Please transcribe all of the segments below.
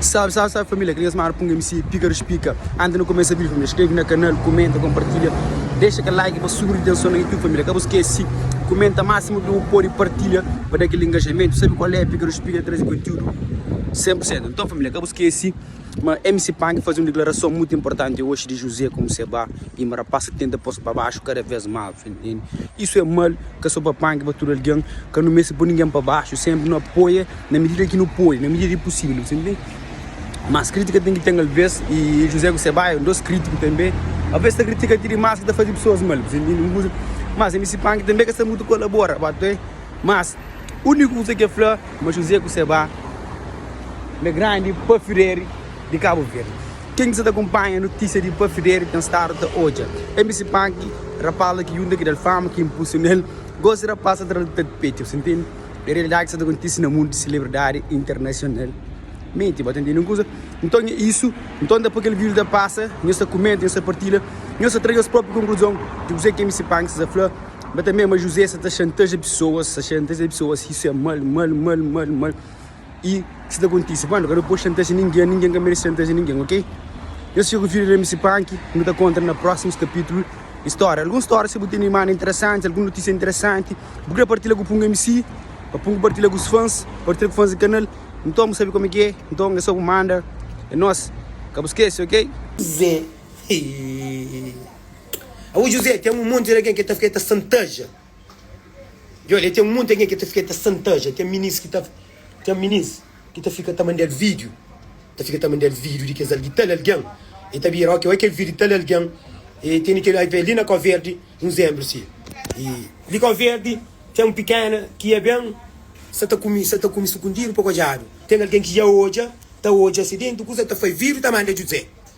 Salve salve salve família, aquele mesmo Arpung MC, Pícaros Pica Antes no começa vídeo família, escreve na canal, comenta, compartilha Deixa aquele like pa subi de tensão na YouTube família, ka bu esquece Comenta máximo que bu pode, partilha pa da aquele engajamento Sabe qual é, Pícaros Pica ta traze conteúdo 100% Então família, ka bu esquece ma MC Pank faze um declaração muito importante hoje de José como se ba e ma rapaz ta tenta pôs pa baxo cada vez mais tá entende? Isso é mal, ka so pa Pank, pa tudo alguém, ka nu meste pôr ninguém pa baxo, sempre nu apoia. Na medida ki nu pode, na medida di pusivel, bu ta intende? Mas kritika ten ki ten alvês, y José ku se bai é un dos kritiku tanbe, alvês ta kritika ti dimás ki ta faze pesoas mal, bu ta intende? Un kuza, mas MC Panki tanbe ka sta mutu kolabora, bu atê? Mas uniku kuza ki el fla ma José ku se bai n é grandi pa fideri di Kabu Verdi. Ken ki sta ta kunpanha notisia di pa fideri ten stadu ta odja MC Panki, rapaz la ki yunta ki da-l fama, ki inpulsiona-l, gosi rapaz sta tra-l ta tapeti, bu ta intende? É realidade ki sa ta kontise na mundu di celebridade internacional. Menti bo ta ntende un kuza? Nton é isu. Nton ta poi kel video ta pasa, nhos ta kumenta, nhos ta partilha, nhos ta tra nhos propi konkluzon di kuzê ki mc Panks ta fla. Ba ta mê ma José sa ta xantaja pesoas, sa xantaja pesoas. Isu é mal, mal, mal, mal, mal. i ki sta kontise pa nu ka nu pode xantaja ningen ningen ka merese xantaja ningen ok nhos fika ku vídeo di mc prank nu ta kontra na prósimus kapitulu di stória alguns stória si bu tene imana interesanti alguns notísia interesanti bu krê partilha ku pungu mc pa pungu partilha ku fans partilha ku fans di kanal nton bu sabe kome ki é nton é so bu manda é nos ka bu skese ok. José hii. Awo José ten un monti di algen ki el ta fika el ta xantaja. Djobe li, ten monti algen ki ta fika ta xantaja. Ten minis ki ta ten minis ki ta fika ta manda-l vídiu, ta fika ta manda-l vídiu di kes al di tal algen. E ta bira, óki, oi kel vídiu di tal algen, e tene kel oi pa el li na Kóverdi, un zénbru si. E li Kóverdi ten un pikéna ki ia ben, sa ta kume, sa ta kume sukundidu pa kodjadu. Ten algen ki ia odja, ta odja si déntu, kusa ta fai, vídiu ta manda djudze.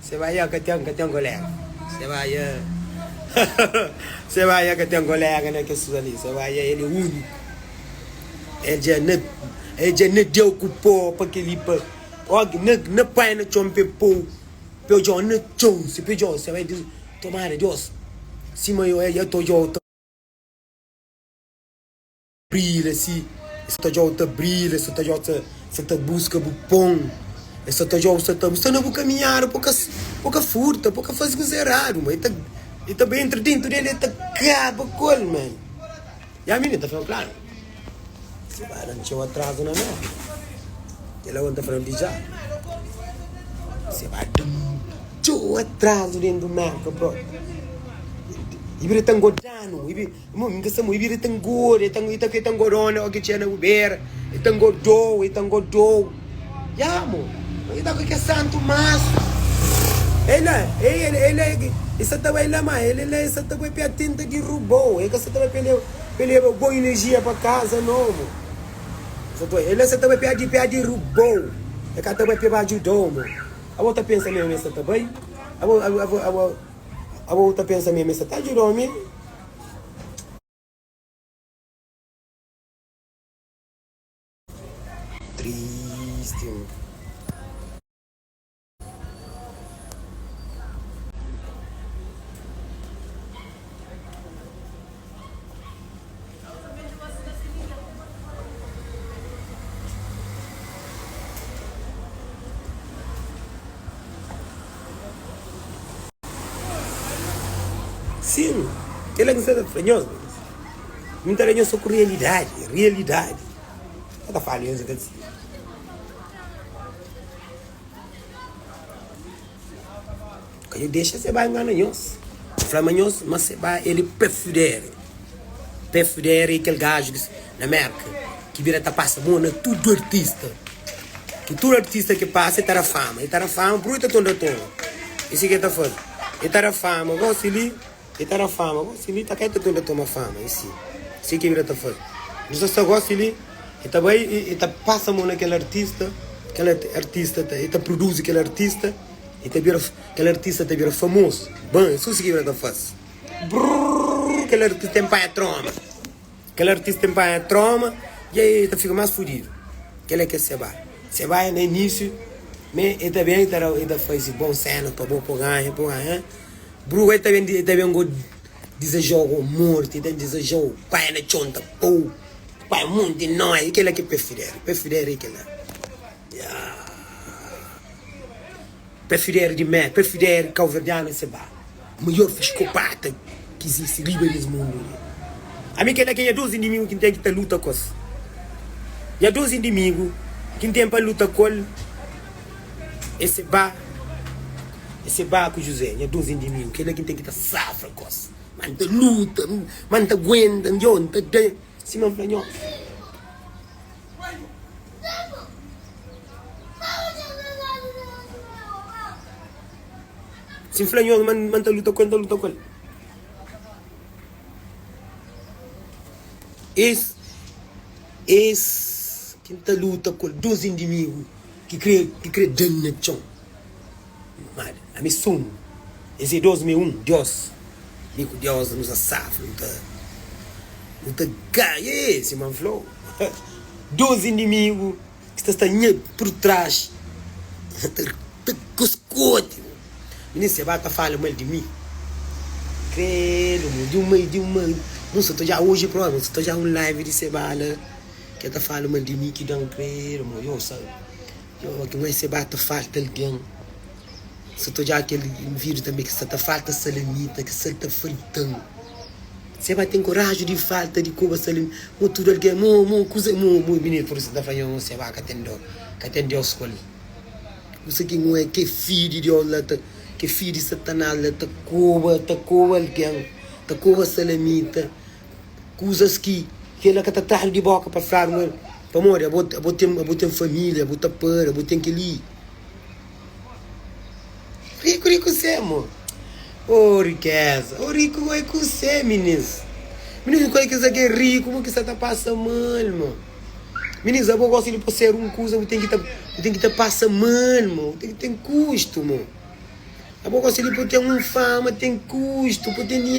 Se ba ya ka ten ka ten kolega se ba ya se ba ya ka ten kolega na kes kuza li se ba ya el é uniku el dja na el dja na deu ku po pa keli pa ok na na pai na txon pe po pe djo na txon se pe djo se ba di tomara dios sima yo ya to djo ta. Brila si e sa ta djou ta brila e sa ta djou sa ta buska bu pon e sa ta djou sa ta bu sta na bu kaminhada po ka po ka furta po ka faze kuza eradu ma e ta e ta bai entra dentu del e ta kaba kol ma ya mi ne ta fla kla si ba la ntxeu atrazu na no ke la o ta fla di dja si ba da ntxeu atrazu dentu merka prop e bira ta ngodjanu e bira Irmon, N ka sta morri, vida ta ngoda, e ta ta ngodona oki txê na bu bera, e ta ngodou, e ta ngodou. Ya, mo, ma ki ta ku kes santu mansu. E la, e el, e la, e sa ta bai la, ma el la, e sa ta bai pia tenta dirubou, e ka sa ta bai pia pa leba bon energia pa kaza no, mo. E la sa ta bai pia pia dirubou, e ka ta bai pia ba ajudou, mo. Abo ta pensa mesmu ma e sa ta bai? Abo, abo, abo. Abo bu ta pensa mê, mê sa ta djuda ome? Sin, kel-la ki N sta ta fla nhos, mi N ta da nhos sô ku rialidadi, rialidadi. N ka ta fala nhos ki el sibi. Ka dja dexa se bai ngana nhos, fla ma nhos, ma se bai el é pefudere, pefudere é kel gaju ki. Na Mérka, ki vida ta pasa mo na tudu artista Ki tudu artista ki pasa e ta da fama E ta da fama purkê ta tonda ton E si ki e ta faze E ta da fama gosi li E ta da fama gosi li Ta ka e ta tonda ton ma fama E si E si ki vida ta faze Nu sa sta gosi li E ta bai e ta pasa mo na kel artista Kel artista ta e ta pruduzi kel artista E ta bira kel artista ta bira famozu Ban E su si ki vida ta faze Brrrr Kel artista ten pai e troma. Kel artis ten panha trauma dja e ta fika mas fudidu kel é kel seba seba é na inisiu me e ta ben e ta e ta fazi bon senas pa bo po ganha po ganha eh bruga e ta ben e ta ben go dizajau go morti e ta dizajau panha na txon ta pou panha monti noi e kela ki pé fidera pé fidera e kela yeah. Prefider di mé, prefider kauverdianu é se ba maior fiskopata ki izisti riba di es mundu li. Ami kel-la ki é nha dôs inimigu ki N ten ki ta luta ku-es. Nha dôs inimigu ki N ten pa luta ku-el é se ba, é se ba ku Juzé, nha dôs inimigu, kel-la ki N ten ki ta safra ku-es. Má N ta luta, má N ta aguenta, nhô, N ta da sima N fla nhô. Si N fla nhos ma N ta luta ku el, N ta luta ku el. Es ki N ta luta ku el, dôs inimigu ki krê da-m na txon. Mal, ami sou un. Es é dos, mi é un. Diós, mi ku Diós da nos asaf. Nu ta, nu ta gaia e, sima N fla-u, dos inimigu ki sta sta nha purtraxi ta, ta goskoti-u. Minis Sebá ta fala mal di mi. Kredu, mon, di un mai, di un mai. Mon sta ta odjá oji própi, mon sta ta odjá un live di Sebá la, ki el ta fala mal di mi ki dan, kredu, mon, iosa. Jeová ki mai seba ta falta algen. Si ta odjá kel invidiu tanbê ki sta ta falta salamita ki sa-l ta falta-m. Seba ten koraji di falta di koba salamita. Mo tudu algen mo mo kusa mo mo é binitu pur isu ta fla mo seba ka ten dó ka ten Deus ku el. Kusa ki mo é ke fi di Deus la ta ke fi di Satanás la ta koba ta koba algen ta koba salamita. Kuzas ki kel la ka ta tradu di boka pa fladu ma el. Pamodi abo ten familia, abo ta para, abo ten kel-li. Riku ri kuzê, amor? O rikeza! O riku oi kuzê, minins? Minins, kua ki sa ki é riku? Ma ki sa ta pasa mal, ma? Minins, abo gosta di posera un kuza, bu ten ki ta, bu ten ki ta pasa mal, ma. Bu ten ki ten kustu, ma. Abo gosta di pa ten un fama, ten kustu, pa ten.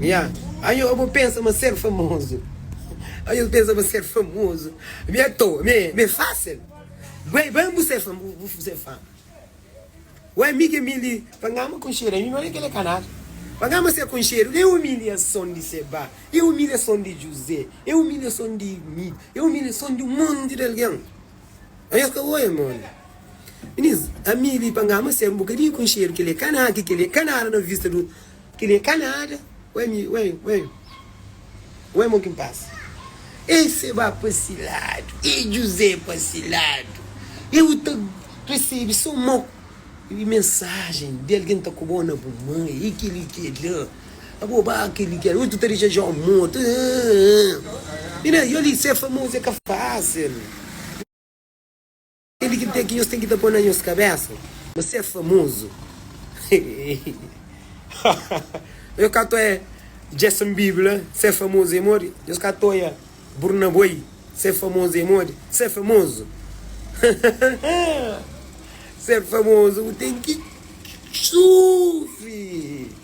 Nha, Anho bo pensa ma ser famozu Anho bo pensa ma ser famozu Mi é toa, mi é, mi é fásil Bué ben bu ser famo, bu ser fama Ué mi ke mi li Pa ngama konxedu ami no é kele kanal Pa ngama ser konxedu Ê umiliason di Sebá Ê umiliason di Juzé Ê umiliason di mi Ê umiliason di un monti di algen Oi es ka oia modi Minis ami li pa ngama ser un bokadinhu konxedu kel é ka na ki kel é ka nada na vista du kel é ka nada Oi ami oi oi oi mon kin pasa Ei Sebá pa si ladu ei Juzé pa si ladu ei bu ta resebi so mo mensajen di algen ta koba-u na bu mãe ei kel-li kel-la. Abobá kel-li kel Ui, tu ta dexa João mortu Aaaaaa Inês, yo li, ser famozu é ka fásil Kel-li ki ten ki nhos ten ki ta pô na nhos kabésa Ma ser famozu Haaaaaa Nhos ka ta oia Jason Bible la Ser famozu é modi Nhos ka ta oia Burna Boy Ser famozu é modi Ser famozu Haaaaaa Ser famozu bu ten ki sufri.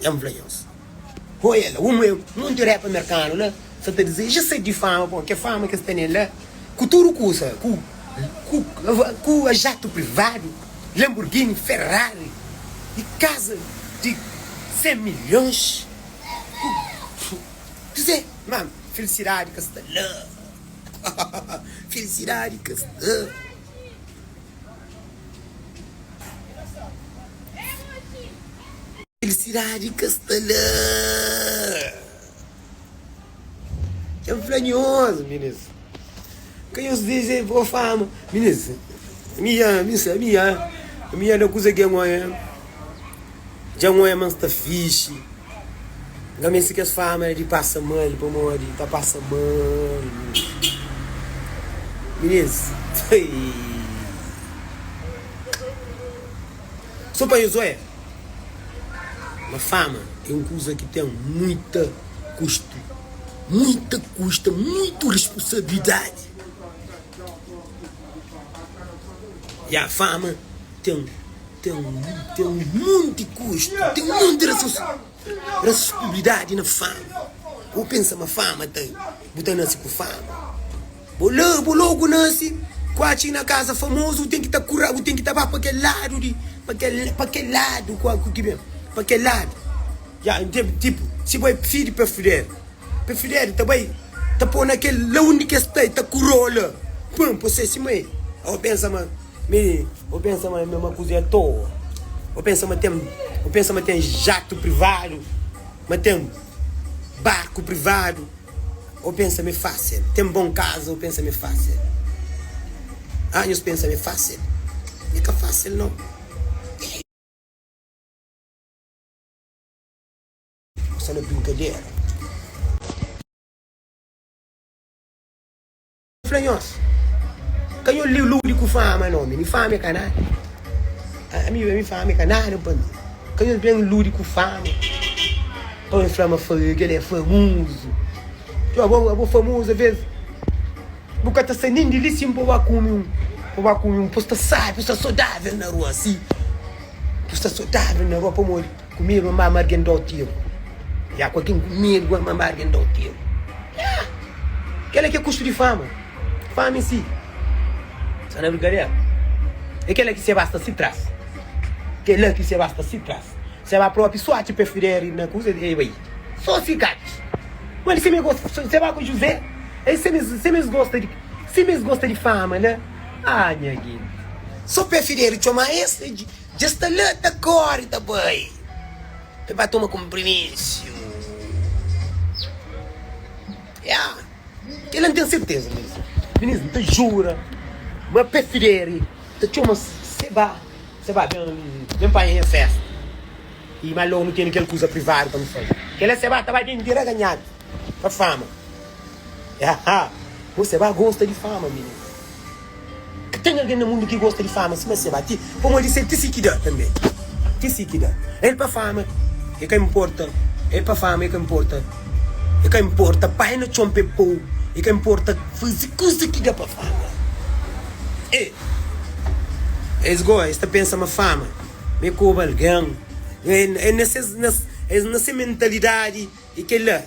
N fla nhos, Ho el la, un muer monti repa merkanu la, sa ta dize, Dja sedi di fama, pô, kel fama ki es tene la, ku tudu kusa, ku, ku jatu privadu, Lamborghini, Ferrari, y kaza di sen milhons, ku, kuzê? Má filisidadi ka sta la, ha-ha-ha, filisidadi ka sta. Felisidadi ka sta la. Dja-m fla nhos, minus. Ka nhos dexa el pô fama, minus. Ami dja, ami sa, ami dja. Ami dja na kuza ki é ngon. Dja n oia ma n sta fixi Nga meste kes fama di pasa mal Pamodi n ta pasa mal Minês So pa nhos oia ma fama é un kuza ki ten muita kustu Muita kusta muitu responsabilidadi Ya fama. Ten, ten, ten un monti kustu, ten un monti rasus, rasuskubilidadi na fama. Bo pensa ma fama ta, bu ta nase ku fama? Bo la, bo logu nase kuachi na kaza famozu, bu ten ki ta kura, bu ten ki ta ba pa kel ladu di, pa kel, pa kel ladu, ku ki ben, pa kel ladu. Ya N tevi tipu si bai pfidi pe fudedi pe fudedi ta bai ta po na kel la undi ke sta e ta kurou la pum po se sima e o pensa ma mi o pensa ma mi ma kuze toa o pensa ma ten o pensa ma ten jatu privadu ma ten barku privadu o pensa mi fasil ten bon kaza o pensa mi fasil anhus pensa mi fasil mi ka fasil no. Ku sala brinkadera. Fla nhos, ka nho li ludi ku fama no mi, mi fama e ka nada. Ami pa mi fama e ka nada pa mi. Ka nhos ben ludi ku fama pa nhos fla ma kel la é famozu. Txeu, abo famozu alvês. Bu ka ta sai nen di li sin pa ba kume un, pa ba kume un P'u sta sábi, p'u sta sodável na rua si P'u sta sodável na rua Pamodi ku medu ma mama argen da-u teru Ya ku algen ku medu ma mama argen da-u teru Ya Kel-la ki é kustu di fama Fami si Sta na brigaderu É kel-la ki se ba sta si tras Kel-la ki se ba sta si tras. Seba propi sorti pa es fidé riba na cruz e bai so si catis. Ma el seme gosta di seba ku José, e seme seme es gosta di seme es gosta di fama na ah nha genti. So pa e fidé ri txoma es e dja sta la ta kori ta bai e ba toma kumpriminsiu ya kela n'ten serteza minis minis n'ta jura ma pa e fidé ri ta txoma seba. Sê ba ben li, ben panha nha festa i ma lógu nu tene kel kuza privadu pa nu faze. Kel-la sê ba ta ba ben diraganhadu pa fama. Haha, bo sê ba gosta di fama, mininu. Ka ten algen na mundu ki gosta di fama sima sê ba, ti, pamodi sê ti si ki da tanbê. Ti si ki da. El pa fama e ka inporta, el pa fama e ka inporta, e ka inporta pai na txon pa e po-u, e ka inporta faze kuza ki da pa fama. E. Es goa es ta pensa ma fama ma é koba algen es na se mentalidadi é kel la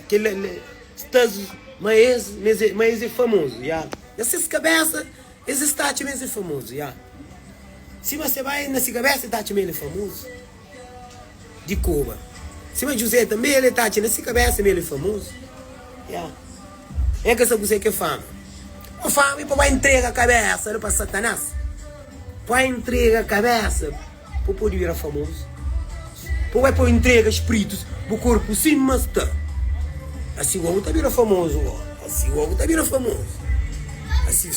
status ma es ma es é famozu ya na ses kabesa es es ta atxa ma es é famozu ya sima se bai na se kabesa el ta atxa ma el é famozu. Di koba. Sima Juzé tanbe, el e ta atxa na si kabésa ma el e famozu. Ya. N ka sa kuzê ki é fama. Má fama i pa bo intrega kabésa-l pa Satanás. Poi intrega kabésa pa bu pode bira famozu. Pa bo é poi intrega spritus bu korpu sin ma sta. Asi bo bu ta bira famozu bo. Asi bo bu ta bira famozu. Asi,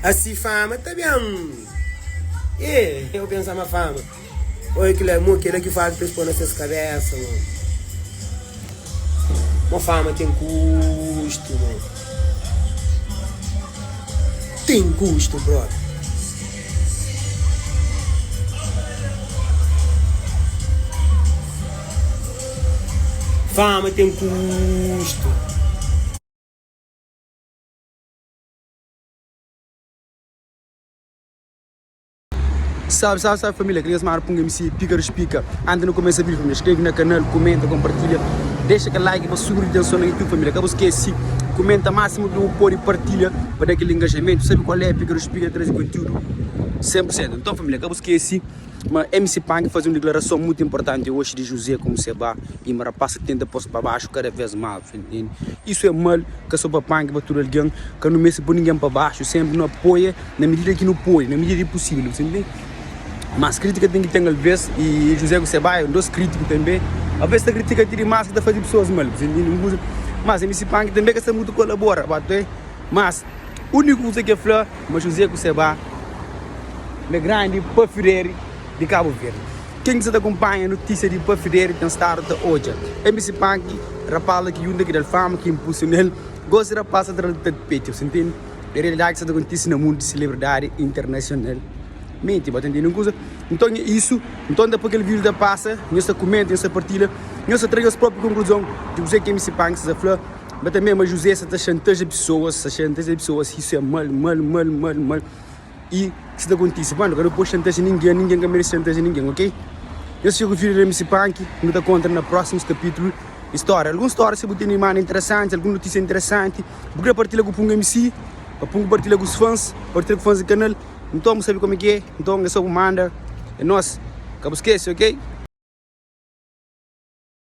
asi fama ta ben. Ê, eu pensa ma fama. Oi kila é mo kila ki faz pa es pô na ses kabésa mo Mo fama ten kustu mo Ten kustu brother Fama ten kustu Salve salve salve família, klinhas mara punga mc píkaru spika Anti nu kumesa vídeo família skrebe na kanal, kumenta, konpartilha Dexa kel like pa subi ritenson na youtube família Ka bu skese kumenta másimu ki bu pode partilha pa da kel ingajamentu Sabe kual é, píkaru spika ta traze kontiúdu 100 pur sentu Nton família ka bu skese ma mc panki faze un diklarason mutu inportanti oxi di Juzé ku Musebá i ma rapás ta tenta pô-s pa baxu kada vês más Isu é mal ka so pa panki pa tudu algen Ka nu meste pô ningen pa baxu, sénpri nu apoia. Na medida ki nu pode, na medida di pusivel, bu sibi. Mas kritika ten ki ten alvez i José ku Sebaia un dos kritiku tanbe, alvez ta kritika ti dimas ki ta faze pesoas mal, bu sibi. Un kuza mas mi sibi Panki tanbe ka sta mutu kolabora ba ta. Mas uniku kuza ki el fla ma José ku Seba na grandi pafideri di Kabu Verdi. Ken ki sta ta konpanha notisia di pafideri ten stadu ta odja mi sibi Panki, rapaz la ki yunta ki dal fama, ki inpulsional, gosi rapaz ta tra-l di tapeti, bu sibi. É realidade ki sa ta kontise na mundu di celebridade internacional. Menti, bo ta ntende un kuza? Nton é isu, nton ta poi kel vírus ta pasa, nhos ta kumenta, nhos ta partilha, nhos ta tra nhos propi konkluzon di kuzê ki MC Panks ta fla. Ba ta mê ma José sa ta xantaja pesoas, sa xantaja pesoas, isu é mal, mal, mal, mal, mal. i si ta kontise ba nu ka nu poi xantazia ningen ningen ka merese xantazia ningen ok nhos fika ku fidi na misi panki nu ta kontra na prosimus kapitulu di storia algun storia si bu tene i manda interesanti algun notisia interesanti bu kre partilha ku pun misi pa pun partilha ku fans partilha ku fans di kanal nton bu sabe komiki nton e so bu manda e nos ka bu skese ok.